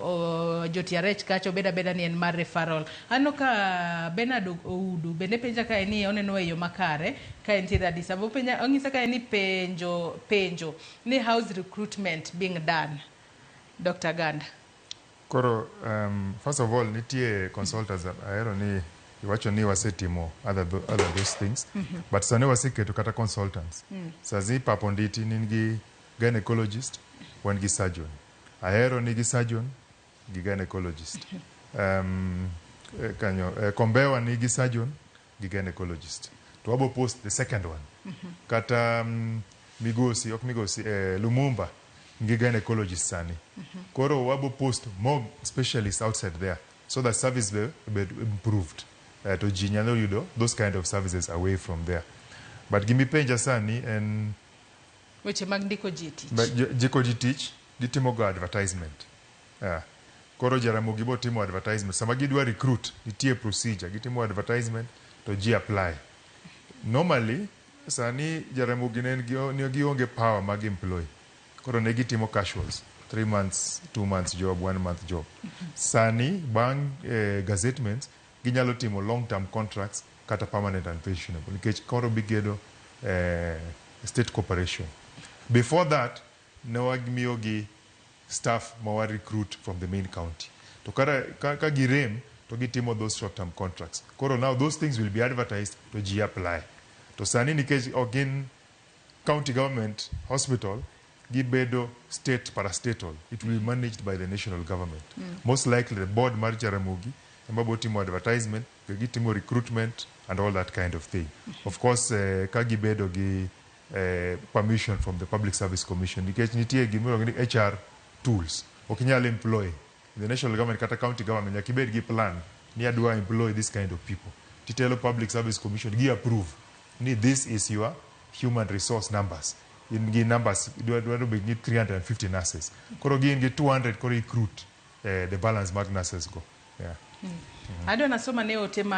Ojotia rech kacha obed abeda ni en mar referral. Aneno ka Bernard Oudu bende penja kae ni oneno e yo makare ka entiere Addis Ababa. Openja onyisa kae ni penjo penjo ni how's recruitment being done Doctor Ganda. Koro um, first of all nitie consultants ahero ni iwacho ni wasetimo other, tho- other those things but sani waseketo kata consultants sazi ipapo nditi nin gi gynecologist wan gi surgeon Ahero ni gi surgeon gi gynecologist. Um, eh, kanyo, eh, Kombewa ni gi surgeon gi gynecologist. To wabo post the second one. Kata um, Migosi, ok Migosi, eh, Lumumba ngi gynecologist sani. Koro wabo post more specialists outside there so that service be, be improved. Eh, to ji nyalo yudo those kind of services away from there. But gimipenja sani en Weche mag ndiko ji e tich. Ba- jo- jiko ji tich gitimo go advertisement yeah. koro jaramogi bo timo advertisement sama gidwa recruit nitie procedure gitimo advertisement to ji apply normally sani jaramogi ne en gi- ne gionge power mag employ koro ne gitimo casuals 3 months 2 months job 1 month job sani bang eh, gazettements Ginyalo timo long term contracts kata permanent and pensionable nikech koro bigedo eh, state cooperation. Before that ne wamiyogi staff ma wa recruit from the main county to kara, ka, ka girem to gitimo those short term contracts. Koro now those things will be advertised to ji apply. To sani nikech ok gin county government hospital gi bedo state parastatal it will be managed by the national government most likely the board mar Jaramogi ema bo timo advertisement be gitimo recruitment and all that kind of thing of course eh, ka gibedo gi eh, permission from the public service commission nikech nitie gima iluongo ni HR tools ok inyal employ in the national government kata county government nyaka ibed gi plan ni adwa employ this kind of people titelo public service commission gi approve ni this is your human resource numbers in gi numbers dwa dwa bed ni 350 nurses koro gin gi 200 koro recruit eh, the balance mag nurses go yeah. Adwa nasoma ne ote ma